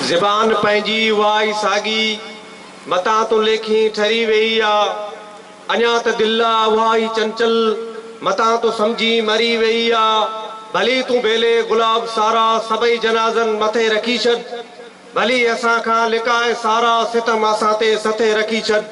زبان پنهنجي اها ئي ساڳي، متان تون ليکين ٺري ويئي آ. اڃا ته دل آ اها ئي چنچل، متان تون سمجهين مري ويئي آ. ڀلي تون بيلي، گلاب، سارا، سڀئي جنازن مٿي رکي ڇڏ. ڀلي اسان کان لڪائي سارا ستم اسان تي سٿي رکي ڇڏ.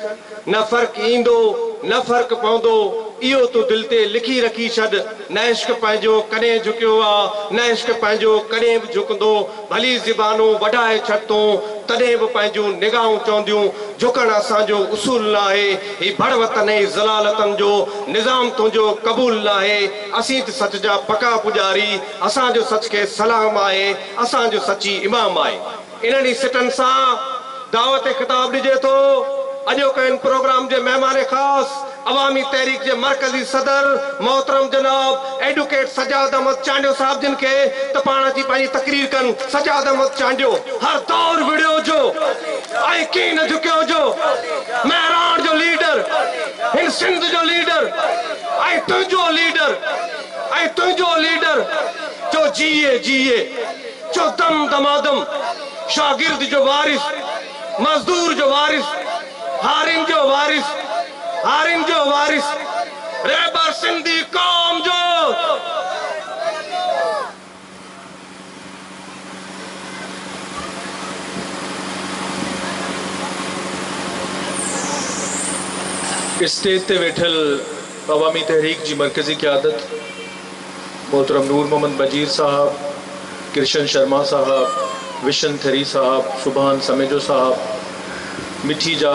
نه فرق ايندو نه فرق پوندو اهو تون دل تي لکي رکي ڇڏ نه عشق پنهنجو ڪڏهن جهڪيو آ نه عشق پنهنجو ڪڏهن به جهڪندو ڀلي زبانون وڍائي ڇڏ تون تڏهن به پنهنجون نگاهون چونديون جهڪڻ اسان جو اصول ناهي هي ڀڙ وطن ۽ ذلالتن جو نظام تنهنجو قبول ناهي اسين ته سچ جا پڪا پڄاري اسان جو سچ کي سلام آهي اسان جو سچ ئي امام آهي. انهن ئي سٽن سان دعوت خطاب ڏجي ٿو. اڄوڪي ان پروگرام جي مهمان خاص عوامي تحريڪ جي مرڪزي صدر محترم جناب ايڊوڪيٽ سجاد احمد چانڊيو صاحب جن کي ته پاڻ اچي پنهنجي تقرير ڪن. سجاد احمد چانڊيو. هر دور وڙهيو جو ۽ ڪي نه جهڪيو جو مهراڻ جو ليڊر هن سنڌ جو ليڊر ۽ تنهنجو ليڊر ۽ تنهنجو ليڊر جو جيئي جيئي. جو دم دمادم، شاگرد جو وارث، مزدور جو وارث، هارين جو وارث، هارين جو وارث، رهبر سنڌي قوم جو. اسٽيج تي ويٺل عوامي تحريڪ جي مرڪزي قيادت، محترم نور محمد بجير صاحب، ڪرشن شرما صاحب، وشن ٿري صاحب، سبحان سميجو صاحب، مٺي جا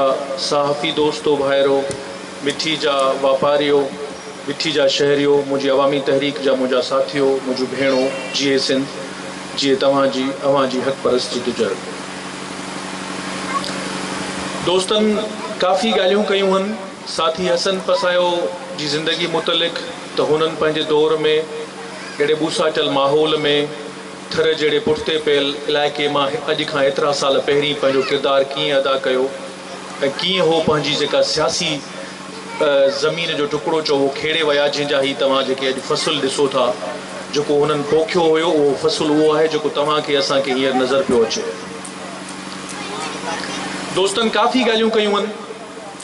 صحافي دوستو ڀائرو، مٺي جا واپاريو، مٺي جا شهريو، منهنجي عوامي تحريڪ جا منهنجا ساٿيو، منهنجون ڀيڻو، جيئي سنڌ، جيئي توهان جي اوهان جي حق پرست جدوجهد. دوستن ڪافي ڳالهيون ڪيون هن، ساٿي حسن پسايو جي زندگي متعلق، ته هنن پنهنجي دور ۾ اهڙي ٻوساٽيل ماحول ۾ ٿر جهڙي پٺتي پيل علائقي مان اڄ کان ايترا سال پهرين پنهنجو ڪردار ڪيئن ادا ڪيو ۽ ڪيئن هو پنهنجي جيڪا سياسي زمين جو ٽڪڙو چئو اهو کيڙي ويا جنهن جا هي توهان جيڪي اڄ فصل ڏسو ٿا جيڪو هنن پوکيو هيو اهو فصل اهو آهي جيڪو توهان کي اسان کي هينئر نظر پيو اچي. دوستن ڪافي ڳالهيون ڪيون هن.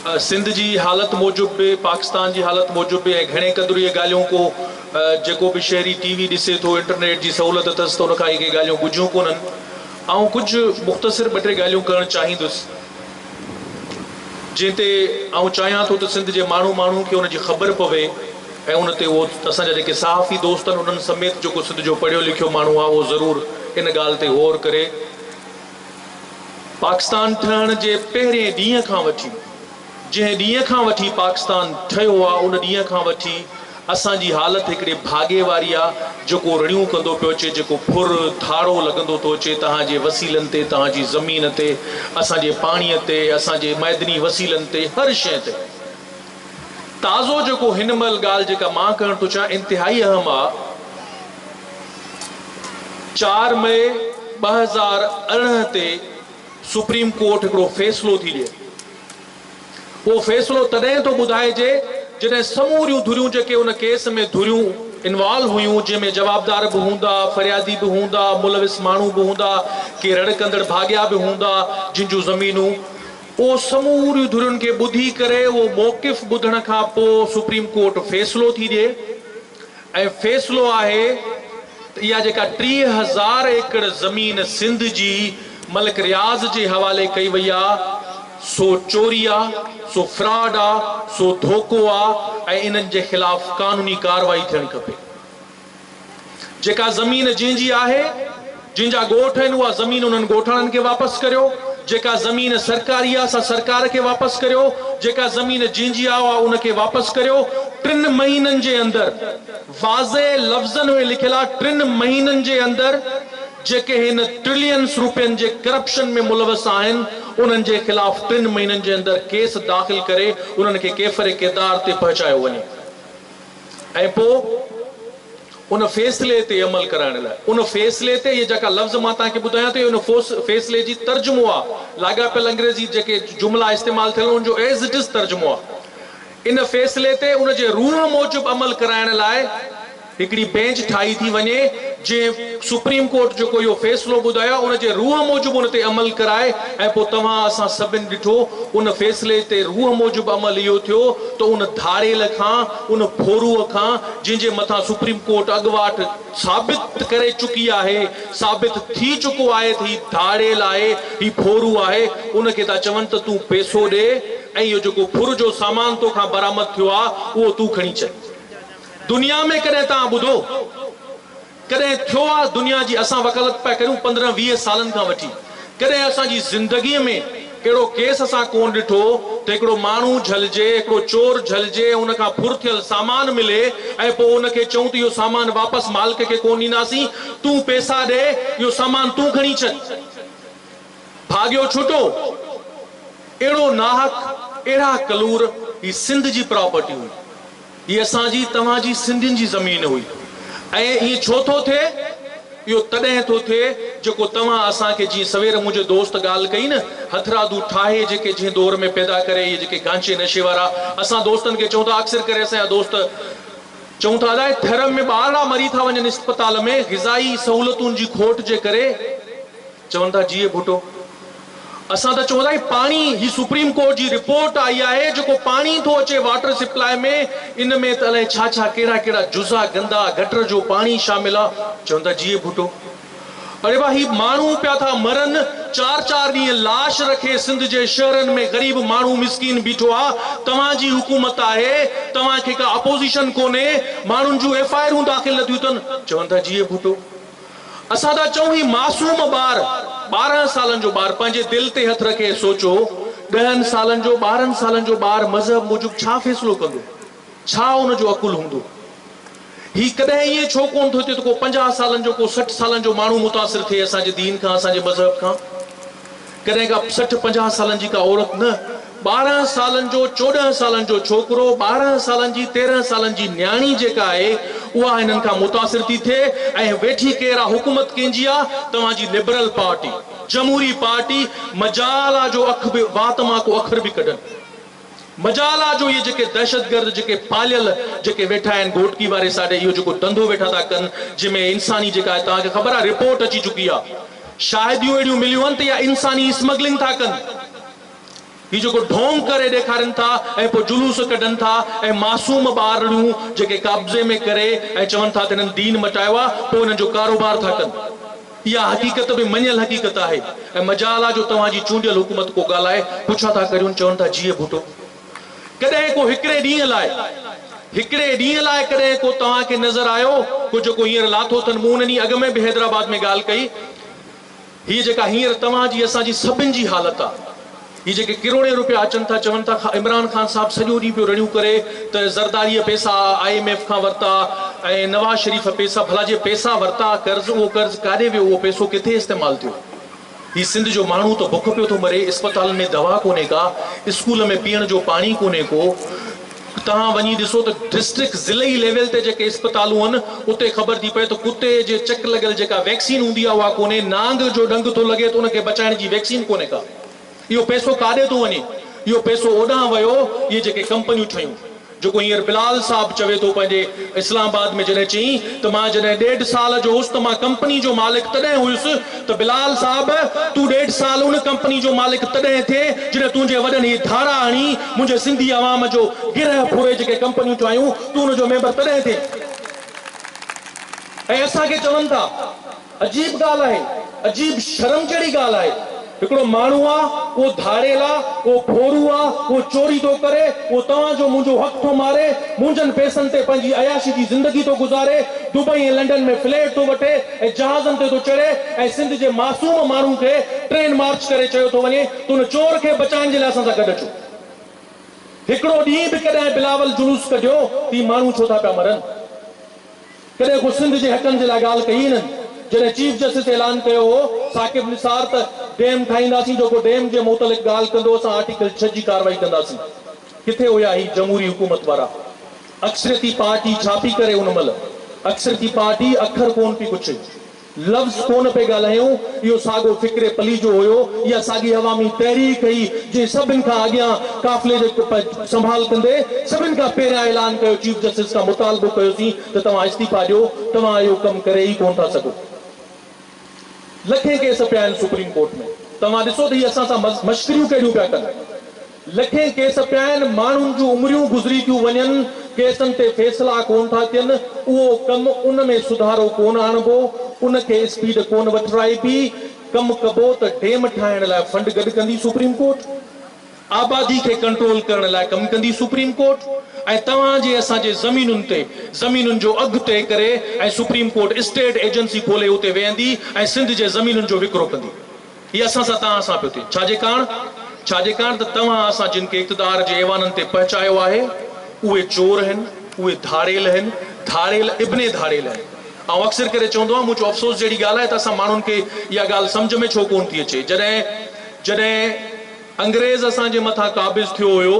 سنڌ جي حالت موجب به پاڪستان جي حالت موجب به ۽ گهڻي قدر اهي ڳالهيون ڪو جيڪو به شهري ٽي وي ڏسي ٿو انٽرنيٽ جي سهولت اٿس ته ان کان اهي ڪي ڳالهيون ڳجهيون ڪونهن آئون ڪجهه مختصر ٻه ٽي ڳالهيون ڪرڻ چاهيندس جنهن تي آئون چاهيان ٿو ته سنڌ جي ماڻهو ماڻهو کي ان جي خبر پوي ۽ ان تي اهو اسان جا جيڪي صحافي دوست آهن انهن سميت جيڪو سنڌ جو پڙهيو لکيو ماڻهو آهي اهو ضرور ان ڳالهه تي غور ڪري پاڪستان ٺهڻ جي پهرين ڏينهن کان وٺي، جنهن ڏينهن کان وٺي پاڪستان ٺهيو آ ان ڏينهن کان وٺي اسان جي حالت هڪڙي ڀاڳي واري آ جيڪو رڙيون ڪندو پيو اچي جيڪو ڦر ڌاڙو لڳندو ٿو اچي تهان جي وسيلن تي تهان جي زمين تي اسان جي پاڻي تي اسان جي معدني وسيلن تي هر شئي تي تازو جيڪو هن مهل ڳالهه جيڪا مان ڪرڻ ٿو چاهيان انتهائي اهم آ، چار مئي ٻه هزار ارڙهن تي سپريم ڪورٽ هڪڙو فيصلو ٿي ڏئي. اهو فيصلو تڏهن ٿو ٻڌائجي جڏهن سموريون ڌريون جيڪي ان ڪيس ۾ ڌريون انوالو هيون جنهن ۾ جوابدار به هوندا، فريادي به هوندا، ملوث ماڻهو به هوندا، ڪي رڙ ڪندڙ ڀاڳيا به هوندا جن جون زمينون. پوء سموريون ڌرين کي ٻڌي ڪري اهو موقف ٻڌڻ کان پوء سپريم ڪورٽ فيصلو ٿي ڏئي ۽ فيصلو آهي ته اها جيڪا ٽيهه هزار ايڪڙ زمين سنڌ جي ملڪ رياض جي حوالي ڪئي وئي آ سو چوري آ سو فراڊ آ سو ڌوڪو آ ۽ انهن جي خلاف قانوني ڪارروائي ٿيڻ کپي. جيڪا زمين جنهن جي آهي، جنهن جا ڳوٺ آهن اها زمين انهن ڳوٺاڻن کي واپس ڪريو، جيڪا زمين سرڪاري آهي سا سرڪار کي واپس ڪريو، جيڪا زمين جنهن جي آهي اها ان کي واپس ڪريو، ٽن مهينن جي اندر واضح لفظن ۾ لکيل آهي ٽن مهينن جي اندر جيڪي هن ٽرلينس روپين جي ڪرپشن ۾ ملوث آهن انهن جي خلاف ٽن مهينن جي اندر ڪيس داخل ڪري انهن کي ڪيفر ڪردار تي پهچايو وڃي. ۽ پوء ان فيصلي تي عمل ڪرائڻ لاء. ان فيصلي تي اهي جيڪا لفظ مان توهان کي ٻڌايان ٿو، اهي ان فيصلي جي ترجمو آ. لاڳاپيل انگريزي جيڪي جملا استعمال ٿيل ان جو As It Is ترجمو آ. ان فيصلي تي ان جي روح موجب عمل ڪرائڻ لاء هڪڙي بينچ ٺاهي ٿي وڃي، جنهن سپريم ڪورٽ جيڪو اهو فيصلو ٻڌايو آ، ان جي روح موجب ان تي عمل ڪرائي ۽ پوء توهان اسان سڀن ڏٺو، ان فيصلي تي روح موجب عمل اهو ٿيو، ته ان ڌاڙيل کان، ان ڦورو کان جنهن جي مٿان سپريم ڪورٽ اڳواٽ ثابت ڪري چڪي آهي، ثابت ٿي چڪو آهي ته هي ڌاڙيل آهي، هي ڦورو آهي، ان کي ٿا چون ته تون پيسو ڏي ۽ اهو جيڪو ڦر جو سامان تو کان برآمد ٿيو آهي اهو تون کڻي چل. دنيا ۾ ڪڏهن توهان ٻڌو؟ ڪڏهن ٿيو آ دنيا جي اسان وڪالت پيا ڪريون پندرهن ويهه سالن کان وٺي ڪڏهن اسان جي زندگي ۾ اهڙو ڪيس اسان ڪون ڏٺو ته هڪڙو ماڻهو جهلجي هڪڙو چور جهلجي ۽ ان کان ڦر ٿيل سامان ملي ۽ پوء ان کي چئون ته اهو سامان واپس مالڪ کي ڪون ڏينداسين تون پيسا ڏي اهو سامان تون کڻي ڇڏ ڀاڳيو ڇوٽو اهڙو ناحق اهڙا ڪلور هي سنڌ جي پراپرٽي هئي. هي اسان جي، توهان جي سنڌين جي زمين هئي ۽ ائين ڇو ٿو ٿئي؟ اهو تڏهن ٿو ٿئي جيڪو توهان اسان کي جيئن سوير منهنجي دوست ڳالهه ڪئي نه هٿرادو ٺاهي جيڪي جنهن دور ۾ پيدا ڪري اهي جيڪي گانچي نشي وارا اسان دوستن کي چئون ٿا اڪثر ڪري اسان جا دوست چئون ٿا ادا هي ٿر ۾ ٻارڙا مري ٿا وڃن اسپتال ۾ غذائي سهولتون جي کوٽ جي ڪري. چون ٿا جيئي ڀٽو. اسان ته چون ٿا هي پاڻي هي سپريم ڪورٽ جي رپورٽ آئي آهي جيڪو پاڻي ٿو اچي واٽر سپلاء ۾ ان ۾ ته الائي ڇا ڇا ڪهڙا ڪهڙا جزا گندا گٽر جو پاڻي شامل آ چون ٿا جيئي ڀٽو اڙي ڀا هي ماڻهو پيا ٿا مرن چار چار ڏينهن لاش رکي سنڌ جي شهرن ۾ غريب ماڻهو مسڪين بيٺو آ توهان جي حڪومت آهي توهان کي ڪا اپوزيشن ڪونهي ماڻهن جون ايف آئرون داخل نٿيون ٿين چون ٿا جيئي ڀٽو. اسان ٿا چئون هي معصوم ٻار، ٻارهن سالن جو ٻار پنهنجي دل تي هٿ رکي سوچو، ڏهن سالن جو، ٻارهن سالن جو ٻار مذهب موجب ڇا فيصلو ڪندو؟ ڇا ان جو عقل هوندو؟ هي ڪڏهن ائين ڇو ڪونه ٿو ٿئي ته ڪو پنجاهه سالن جو، ڪو سٺ سالن جو ماڻهو متاثر ٿئي اسان جي دين کان، اسان جي مذهب کان؟ ڪڏهن ڪا سٺ پنجاهه سالن جي ڪا عورت نه، ٻارهن سالن جو چوڏهن سالن جو ڇوڪرو، ٻارهن سالن جي تيرهن سالن جي نياڻي جيڪا آهي اها هنن کان متاثر ٿي ٿئي ۽ ويٺي ڪير آ حڪومت ڪنهن جي آ توهان جي لبرل پارٽي جمهوري پارٽي مجال آ جو اک به وات مان ڪو اکر به ڪڍن. مجال آ جو اھي جيڪي دھشتگرد جيڪي پاليل جيڪي ويٺا آھن گھوٽڪي واري ساڊي اھو جيڪو دھندو ويٺا ٿا ڪن جنھن ۾ انساني جيڪا آھي توھان کي خبر آ رپورٽ اچي چڪي آ شاھديون اھڙيون مليون آھن ته اھا انساني اسمگلنگ ٿا ڪن ھي جيڪو ڍونگ ڪري ڏيکارين ٿا ۽ پوء جلوس ڪڍن ٿا ۽ معصوم ٻارڙيون جيڪي قابضي ۾ ڪري ۽ چون ٿا ته ھنن دين مٽايو آ پوء ھنن جو ڪاروبار ٿا ڪن. اها حقيقت به مڃيل حقيقت آهي ۽ مجال آ جو توهان جي چونڊيل حڪومت ڪو ڳالهائي پڇا ٿا ڪريون چون ٿا جيئي ڀٽو ڪڏهن ڪو هڪڙي ڏينهن لاء هڪڙي ڏينهن لاء ڪڏهن ڪو توهان کي نظر آيو ڪو جيڪو هينئر لاٿو اٿن مون ان ڏينهن اڳ ۾ به حيدرآباد ۾ ڳالهه ڪئي هيء جيڪا هينئر توهان جي اسان جي سڀن جي حالت آ. هي جيڪي ڪروڙين روپيا اچن ٿا چون ٿا عمران خان صاحب سڄو ڏينهن پيو رڙيون ڪري ته زرداريء پئسا آء ايم ايف کان ورتا ۽ نواز شريف پئسا ڀلا جي پئسا ورتا قرض اهو قرض ڪاڏي ويو اهو پئسو ڪٿي استعمال ٿيو هي سنڌ جو ماڻهو ته بک پيو ٿو مري اسپتالن ۾ دوا ڪونهي ڪا اسڪول ۾ پيئڻ جو پاڻي ڪونهي ڪو توهان وڃي ڏسو ته ڊسٽرڪٽ ضلعي ليول تي جيڪي اسپتالون هن اتي خبر ٿي پئي ته ڪتي جي چڪ لڳل جيڪا ويڪسين هوندي آهي اها ڪونهي نانگ جو ڏنگ ٿو لڳي ته ان کي بچائڻ جي ويڪسين ڪونهي ڪا. اهو پئسو ڪاڏي ٿو وڃي؟ اهو پئسو اوڏانهن ويو اهي جيڪي ڪمپنيون ٺهيون. جيڪو هينئر بلال صاحب چوي ٿو پنهنجي اسلام آباد ۾ جڏهن چيائين ته مان جڏهن ڏيڍ سال جو هوس ته مان ڪمپني جو مالڪ تڏهن هيس ته بلال صاحب تون ڏيڍ سال ان ڪمپني جو مالڪ تڏهن ٿي جڏهن تنهنجي وڏن هي ڌاڙا هڻي منهنجي سنڌي عوام جو گرهه ڦري جيڪي ڪمپنيون ٺاهيون تون ان جو ميمبر تڏهن ٿي ۽ اسان کي چون ٿا عجيب ڳالهه آهي، عجيب شرم جهڙي ڳالهه آهي. هڪڙو ماڻهو آ، اهو ڌاڙيل آ، اهو ڀورو آ، اهو چوري ٿو ڪري، اهو توهان جو منهنجو حق ٿو ماري، منهنجن پئسن تي پنهنجي عياشي جي زندگي ٿو گذاري، دبئي ۽ لنڊن ۾ فليٽ ٿو وٺي ۽ جهازن تي ٿو چڙهي ۽ سنڌ جي معصوم ماڻهو کي ٽرين مارچ ڪري چيو ٿو وڃي ته ان چور کي بچائڻ جي لاء اسان سان گڏ اچو. هڪڙو ڏينهن به ڪڏهن بلاول جلوس ڪڍيو ته هي ماڻهو ڇو ٿا پيا مرن؟ ڪڏهن ڪو سنڌ جي حقن جي لاء ڳالهه ڪئي هنن؟ جڏهن چيف جسٽس اعلان ڪيو هو ثاقب نثار ته ڊيم ٺاهينداسين جيڪو ڊيم جي متعلق ڳالهه ڪندو اسان آرٽيڪل ڇهه جي ڪارروائي ڪنداسين ڪٿي هيا هي جمهوري حڪومت وارا اڪثريتي پارٽي ڇا پي ڪري ان مهل اڪثريتي پارٽي اکر ڪون پي پڇي. لفظ ڪونه پئي ڳالهايون، اهو ساڳو فڪر پليجو هيو، اها ساڳي عوامي تحريڪ هئي، جنهن سڀن کان اڳيان قافلي جي سنڀال ڪندي سڀن کان پهريان اعلان ڪيو، چيف جسٽس کان مطالبو ڪيوسين ته توهان استعيفا ڏيو، توهان اهو ڪم ڪري ئي ڪونه ٿا سگهو. لکين ڪيس پيا آهن سپريم ڪورٽ ۾، توهان ڏسو ته هي اسان سان مشڪريون ڪهڙيون پيا ڪن. لکين ڪيس پيا آهن، ماڻهن جون عمريون گذري ٿيون وڃن، ڪيسن تي فيصلا ڪونه ٿا ٿين، اهو ڪم ان ۾ سڌارو ڪونه آڻبو، ان کي اسپيڊ ڪونه وٺرائبي، ڪم ڪبو ته ڊيم ٺاهڻ لاء فنڊ گڏ ڪندي سپريم ڪورٽ، آبادي کي ڪنٽرول ڪرڻ لاء ڪم ڪندي سپريم ڪورٽ ۽ توهان جي اسان جي زمينن تي زمينن جو اگهه طئي ڪري ۽ سپريم ڪورٽ اسٽيٽ ايجنسي کولي اتي ويهندي ۽ سنڌ جي زمينن جو وڪرو ڪندي. هي اسان سان توهان سان پيو ٿئي. ڇا جي ڪاڻ؟ ڇا جي ڪاڻ ته توهان اسان جن کي اقتدار جي ايوانن تي پهچايو آهي، اهي چور هن، اهي ڌاڙيل هن، ڌاڙيل ابن ڌاڙيل هن. آئون اڪثر ڪري چوندو آهيان، مون چيو افسوس جهڙي ڳالهه آهي ته اسان ماڻهن کي اها ڳالهه سمجهه ۾ ڇو ڪونه ٿي اچي. جڏهن جڏهن انگريز اسان جي مٿان قابض ٿيو هيو،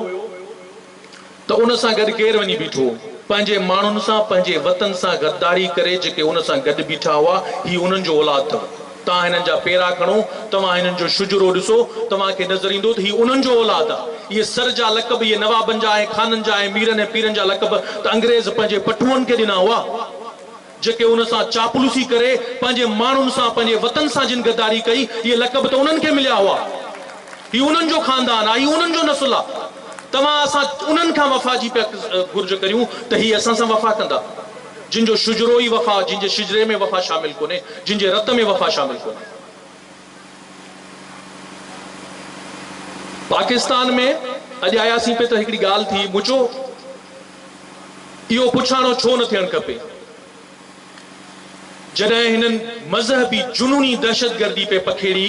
ته ان سان گڏ ڪير وڃي بيٺو؟ پنهنجي ماڻهن سان، پنهنجي وطن سان غداري ڪري جيڪي ان سان گڏ بيٺا هئا، هي انهن جو اولاد اٿو. توهان هنن جا پيرا کڻو، توهان هنن جو شجرو ڏسو، توهان کي نظر ايندو ته هي انهن جو اولاد آ. اهي سر جا لقب، اهي نوابن جا ۽ خانن جا ۽ ميرن ۽ پيرن جا لقب ته انگريز پنهنجي پٺوئن کي ڏنا هئا. جيڪي ان سان چاپلوسي ڪري پنهنجي ماڻهن سان پنهنجي وطن سان جن غداري ڪئي اهي لقب ته انهن کي مليا هئا هي انهن جو خاندان آ هي انهن جو نسل آ توهان اسان انهن کان وفا جي پيا گهرج ڪريون ته هي اسان سان وفا ڪندا جن جو شجرو ئي وفا جن جي شجري ۾ وفا شامل ڪونهي جن جي رت ۾ وفا شامل ڪونهي پاڪستان ۾ اڄ آياسين پي ته هڪڙي ڳالهه ٿي مون چيو. اهو پڇاڻو ڇو نه ٿيڻ کپي؟ جڏهن هنن مذهبي جنوني دهشتگردي پئي پکيڙي،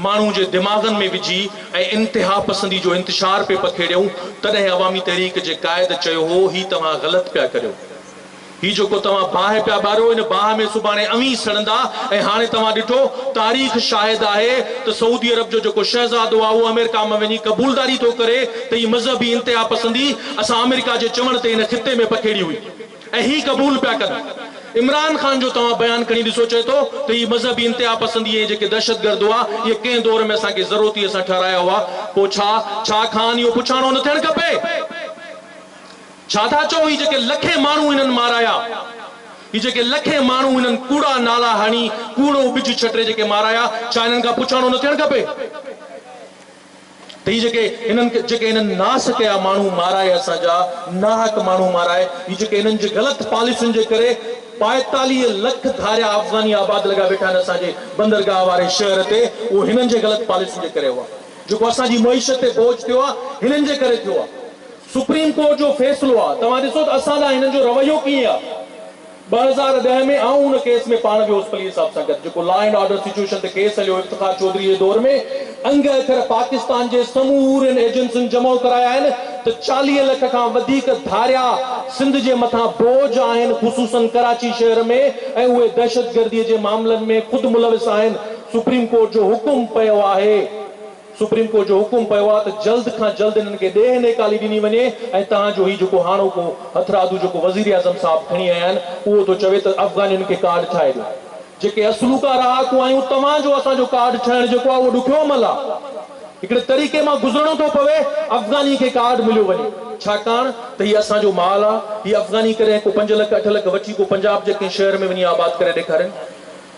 ماڻهو جي دماغن ۾ وجهي ۽ انتهاپسندي جو انتشار پئي پکيڙيون، تڏهن عوامي تحريڪ جي قائد چيو هو، هي توهان غلط پيا ڪريو. هي جيڪو توهان باهه پيا ٻاريو، ان باهه ۾ سڀاڻي اوهين سڙندا ۽ هاڻي توهان ڏٺو، تاريخ شاهد آهي ته سعودي عرب جو جيڪو شهزادو آهي، اهو آمريڪا مان وڃي قبولداري ٿو ڪري ته هي مذهبي انتهاپسندي، اسان آمريڪا جي چوڻ تي هن خطي ۾ پکيڙي هئي ۽ هي قبول پيا ڪن. عمران خان جو توهان بيان کڻي ڏسو چئي ٿو ته هي مذهبي انتهاپسندي ۽ جيڪي دهشتگرد هئا اهي ڪنهن دور ۾ اسان کي ضرورتي سان ٺهرايا هئا پوء ڇا ڇا خان اهو پڇاڻو نه ٿيڻ کپي ڇا ٿا چئو هي جيڪي لکين ماڻهو هنن مارايا هي جيڪي لکين ماڻهو هنن ڪوڙا نالا هڻي ڪوڙو ٻج ڇٽري جيڪي مارايا ڇا هنن کان پڇاڻو نه ٿيڻ کپي. هي جيڪي هنن جيڪي هنن ناس ڪيا ماڻهو مارائي اسان جا ناحق ماڻهو مارائي هي جيڪي هنن جي غلط پاليسين جي ڪري ٻائيتاليهه لک ڌاريا افغاني آباد لڳا ويٺا آهن اسان جي بندرگاهه واري شهر تي اهو هنن جي غلط پاليسين جي ڪري هئا جيڪو اسان جي معيشت تي بوجھ ٿيو آهي هنن جي ڪري ٿيو آهي سپريم ڪورٽ جو فيصلو آهي توهان ڏسو ته اسان ڏانهن هنن جو رويو ڪيئن آهي. ٻه هزار ڏهه ۾ آئون ان ڪيس ۾ پاڻ به هوس پلير صاحب سان گڏ جيڪو لا اينڊ آرڊر سچوئيشن تي ڪيس هليو افتخار چوڌري جي دور ۾ انگ اکر پاڪستان جي سمورين ايجنسين جمع ڪرايا آهن ته چاليهه لک کان وڌيڪ ڌاريا سنڌ جي مٿان بوجھ آهن خصوصن ڪراچي شهر ۾ ۽ اهي دهشتگردي جي معاملن ۾ خود ملوث آهن سپريم ڪورٽ جو حڪم پيو آهي سپريم ڪورٽ جو حڪم پيو آهي ته جلد کان جلد انهن کي ڏيهه نيڪالي ڏني وڃي ۽ تان جو هي جيڪو هاڻوڪو هٿرادو جيڪو وزيراعظم صاحب کڻي آيا آهن اهو ٿو چوي ته افغانين کي ڪارڊ ٺاهي ڏيو جيڪي اصلوڪا رهاڪو آهيون توهان جو اسان جو ڪارڊ ٺهڻ جيڪو آهي اهو ڏکيو عمل آهي هڪڙي طريقي مان گذرڻو ٿو پوي افغاني کي ڪارڊ مليو وڃي ڇاڪاڻ ته هي اسان جو مال آهي هي افغاني ڪڏهن ڪو پنج لک اٺ لک وٺي ڪو پنجاب جي ڪنهن شهر ۾ وڃي آباد ڪري ڏيکارين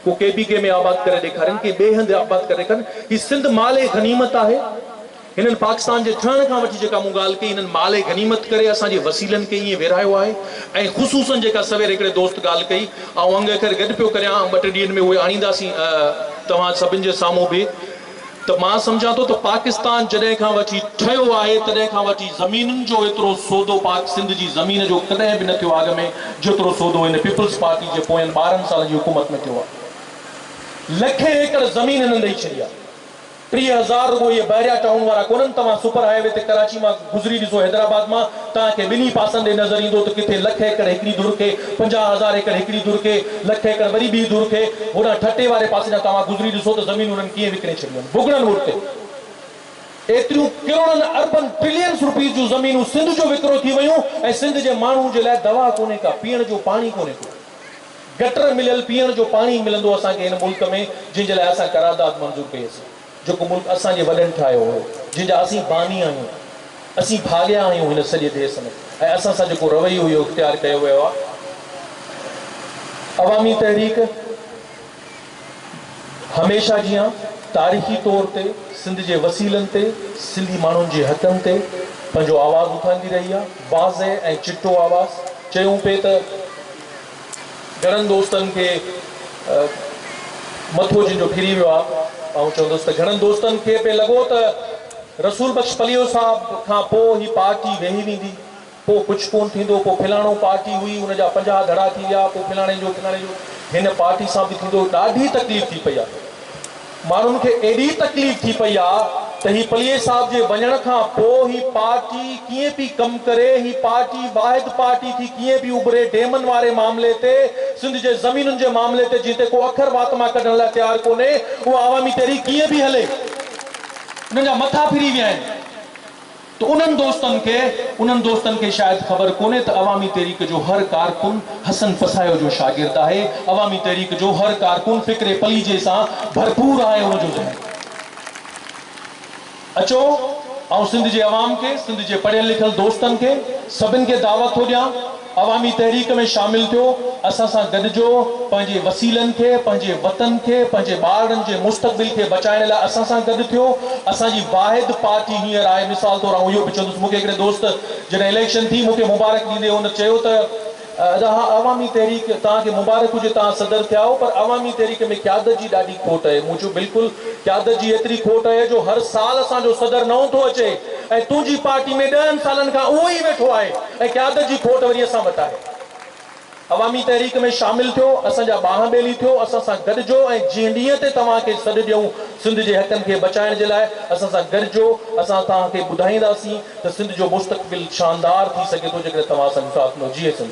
ڪو ڪي پي ڪي ۾ آباد ڪري ڏيکارين ڪي ٻئي هنڌ آباد ڪري ڏيکارين هي سنڌ مال غنيمت آهي هنن پاڪستان جي ٺهڻ کان وٺي جيڪا مون ڳالهه ڪئي هنن مال غنيمت ڪري اسان جي وسيلن کي ائين ويرهايو آهي ۽ خصوصن جيڪا سوير هڪڙي دوست ڳالهه ڪئي آئون انگ اکر گڏ پيو ڪريان ٻه ٽي ڏينهن ۾ اهي آڻينداسين توهان سڀن جي سامهون به ته مان سمجهان ٿو ته پاڪستان جڏهن کان وٺي ٺهيو آهي تڏهن کان وٺي زمينن جو ايترو سودو پاڪ سنڌ جي زمين جو ڪڏهن به نه ٿيو آهي اڳ ۾ جيترو سودو هن پيپلز پارٽي جي پوين ٻارهن سالن جي حڪومت ۾ ٿيو آهي لکين ايڪڙ زمين هنن ڏئي ڇڏي آهي ٽيهه هزار رڳو اهي بحريا ٽائون وارا ڪونهن توهان سپر هاء وي تي ڪراچي مان گذري ڏسو حيدرآباد مان توهان کي ٻنهي پاسن ڏي نظر ايندو ته ڪٿي لک ايڪڙ هڪڙي ڌر کي، پنجاهه هزار ايڪڙ هڪڙي ڌر کي، لک ايڪڙ وري ٻي ڌر کي، هوڏانهن ٺٽي واري پاسي ڏانهن توهان گذري ڏسو ته زمينون انهن ڪيئن وڪڻي ڇڏيون آهن. ڀڳڙن وٽ ته ايتريون ڪروڙن اربن ٽرلينس روپيز جون زمينون سنڌ جو وڪرو ٿي ويون ۽ سنڌ جي ماڻهو جي لاء دوا ڪونهي ڪا، پيئڻ جو پاڻي ڪونهي ڪو. گٽر مليل پيئڻ جو پاڻي ملندو اسان کي هن ملڪ ۾ جنهن جي لاء اسان قرارداد منظور ڪئي اسين. جيڪو ملڪ اسان جي وڏن ٺاهيو هو، جنهن جا اسين باني آهيون. اسين ڀاڳيا آهيون هن سڄي ديس ۾ ۽ اسان سان جيڪو رويو اهو اختيار ڪيو ويو آهي. عوامي تحريڪ هميشه جيان تاريخي طور تي سنڌ جي وسيلن تي سنڌي ماڻهن جي حقن تي پنهنجو آواز اٿاريندي رهي آهي. واضح ۽ چٽو آواز چيون پئي ته. گهڻن دوستن کي مٿو جن جو ڦري ويو آهي، آئون چوندس ته گهڻن دوستن کي پئي لڳو ته رسول بخش پليو صاحب کان پوء هي پارٽي ويهي ويندي، پوء ڪجهه ڪونه ٿيندو، پوء ڦلاڻو پارٽي هئي ان جا پنجاهه ڌڙا ٿي ويا، پوء ڦلاڻي جو ڦلاڻي جو هن پارٽي سان به ٿيندو، ڏاڍي تڪليف ٿي پئي آهي. ماڻهن کي ايڏي تڪليف ٿي پئي آ ته هي پليجي صاحب جي وڃڻ کان پو هي پارٽي ڪيئن پي ڪم ڪري هي پارٽي واحد پارٽي ٿي ڪيئن پي اڀري ڊيمن واري معاملي تي سنڌ جي زمينن جي معاملي تي جنهن تي ڪو اکر وات مان ڪڍڻ لاء تيار ڪونهي اها عوامي تحريڪ ڪيئن پي هلي انهن جا مٿا ڦري ويا آهن. ته انهن دوستن کي انهن دوستن کي شايد خبر ڪونهي ته عوامي تحريڪ جو هر ڪارڪن حسن پساهيو جو شاگرد آهي، عوامي تحريڪ جو هر ڪارڪن فڪر پليجي سان ڀرپور آهي ان جو ذهن اچو آئون سنڌ جي عوام کي سنڌ جي پڙهيل لکيل دوستن کي سڀن کي دعوت ٿو ڏيان. عوامي تحريڪ ۾ شامل ٿيو، اسان سان گڏجو، پنهنجي وسيلن کي، پنهنجي وطن کي، پنهنجي ٻارڙن جي مستقبل کي بچائڻ لاء اسان سان گڏ ٿيو، اسان جي واحد پارٽي هينئر آهي، مثال طور آئون اهو به چوندس، مون کي هڪڙي دوست جڏهن اليڪشن ٿي، مون کي مبارڪ ڏيندي هن چيو ته، ادا اها عوامي تحريڪ، توهان کي مبارڪ هجي توهان صدر ٿيا آهو، پر عوامي تحريڪ ۾ قيادت جي ڏاڍي کوٽ اهي، مون چيو بلڪل قيادت جي ايتري کوٽ اهي جو هر سال اسان جو صدر نئون ٿو اچي ۽ تنهنجي پارٽي ۾ ڏهن سالن کان اهو ئي ويٺو آهي، ۽ قيادت جي کوٽ وري اسان وٽ آهي. عوامي تحريڪ ۾ شامل ٿيو، اسان جا ٻانهن ٻيلي ٿيو، اسان سان گڏجو ۽ جنهن ڏينهن تي توهان کي سڏ ڏيون سنڌ جي حقن کي بچائڻ جي لاء اسان سان گڏجو، اسان توهان کي ٻڌائينداسين ته سنڌ جو مستقبل شاندار ٿي سگهي ٿو جيڪڏهن توهان اسان کي ساٿ ڏنو. جيئي سنڌ.